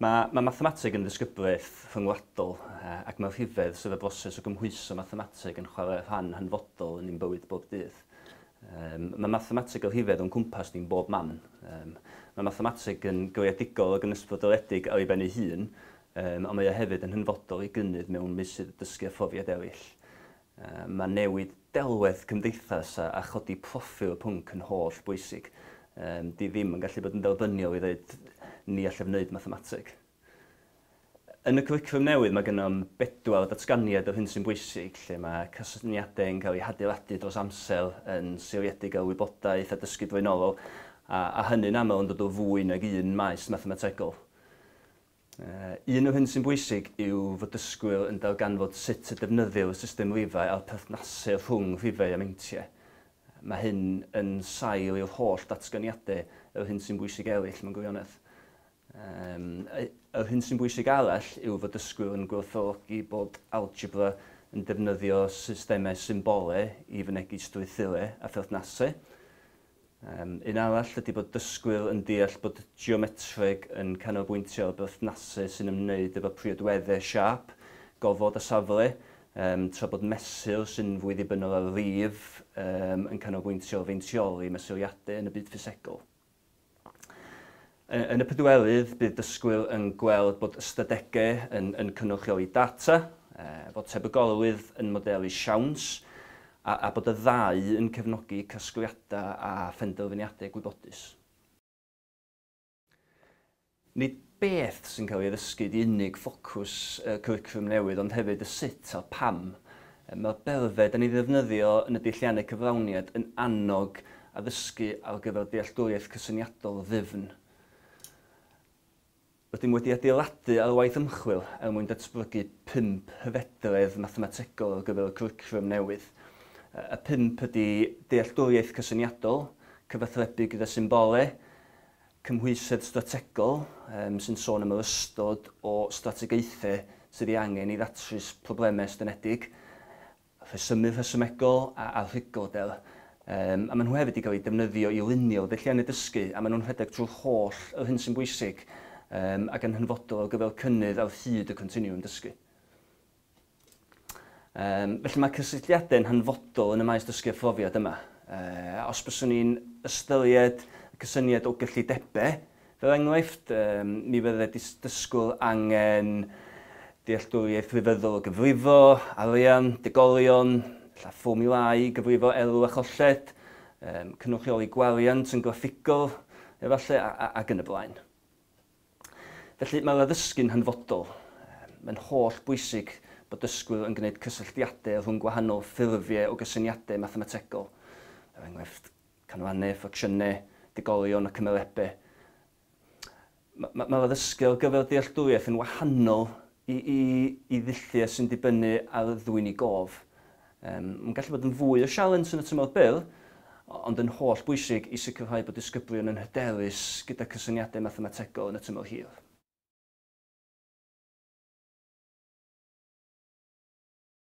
Mae mae mathemateg yn ddisgyblaeth rhyngwladol ac mae'r rhifedd sydd y broses o gymhwyso mathemateg yn chwarae rhan hanfodol yn ein bywyd bob dydd. Um, mae mathemateg o rhifedd o'n cwmpas ni'n bob man. Um, mae mathemateg yn greadigol ac yn ysbrydoledig ar ei ben ei hun, um, ond mae o hefyd yn hynfodol i gynnydd mewn meysydd dysgu a phrofiad eraill. Mae newid delwedd cymdeithas a chodi proffil y pwnc yn holl bwysig. Dwi ddim yn gallu bod yn dderbyniol i ddeud ni allaf wneud mathemateg. Yn y cwricwlwm newydd mae gennym bedwar datganiad o'r hyn sy'n bwysig, lle mae cysyniadau yn cael eu hadeiladu dros amser yn seiliedig ar wybodaeth a dysgu blaenorol, a hynny'n aml yn dod o fwy nag un maes mathemategol. Un o'r hyn sy'n bwysig yw fod dysgwyr yn darganfod sut y defnyddir y system rifau a'r perthnasedd rhwng rhifau a meintiau. Mae hyn yn sail i'r holl ddatganiadau yr hyn sy'n bwysig eraill mewn gwirionedd. Yym, yr hyn sy'n bwysig arall yw fod dysgwyr yn gwerthfawrogi bod algebra yn defnyddio systemau symbolau i fynegi strwythurau a pherthnasau. Un arall ydy bod dysgwyr yn deall bod geometreg yn canolbwyntio ar berthnasu sy'n ymwneud efo priodwedde, siâp, gofod a safle, tra bod mesur sy'n fwy ddibynnol ar rif yn canolbwyntio ar feintioli mesuriadau yn y byd ffisegol. Yn y pedwerydd, bydd dysgwyr yn gweld bod ystadegau yn cynrychioli data, bod tebygolrwydd yn modelu siawns, a bod y ddau yn cefnogi casgliadau a phenderfyniadau gwybodus. Nid beth sy'n cael ei ddysgu ydy unig ffocws y cwricwlwm newydd ond hefyd y sut a'r pam Mae'r berfed yn ei ddefnyddio yn y deilliannau cyflawniad yn annog addysgu ar gyfer dealltwriaeth cysyniadol ddyfn. Rydym wedi adeiladu ar waith ymchwil er mwyn datblygu pump hyfedredd mathemategol ar gyfer y cwricwlwm newydd. Y pump ydy dealltwriaeth cysyniadol, cyfathrebu gyda symbolau, Cymhwysedd strategol, sy'n sôn am yr ystod o strategaethau sydd ei angen i ddatrys problemau estynedig, rhesymu rhesymegol a arhygolder. A maen nhw hefyd 'di cael eu defnyddio i lunio dulliannau dysgu, a maen nhw'n rhedeg trwy'r holl yr hyn sy'n bwysig, ac yn hanfodol ar gyfer cynnydd ar hyd y continwwm dysgu. Yym, felly mae cysylltiadau'n hanfodol yn y maes dysgu a phrofiad yma. Yy, os byswn ni'n ystyried y cysyniad o gyllidebau, fel enghraifft, yym, mi fydde dys- dysgwr angen dealltwriaeth grefyddol o gyfrifo, arian, degolion, ella fformiwlâu i gyfrifo elw a cholled, yym, cynrychioli gwariant yn graffigol, efallai, a, a, ac yn y blaen. Felly, mae addysgu'n hanfodol. Mae'n holl bwysig bod dysgwyr yn gwneud cysylltiadau rhwng gwahanol ffurfiau o gysyniadau mathemategol, er enghraifft, canrannau, ffracsiynau, digolion a cymerebau. Mae'r addysgu ar gyfer dealltwriaeth yn wahanol i ddulliau sy'n dibynnu ar ddwyni gof, Mae'n gallu bod yn fwy o sialens yn y tymor byr, ond yn holl bwysig i sicrhau bod disgyblion yn hyderus gyda cysyniadau mathemategol yn y tymor hir.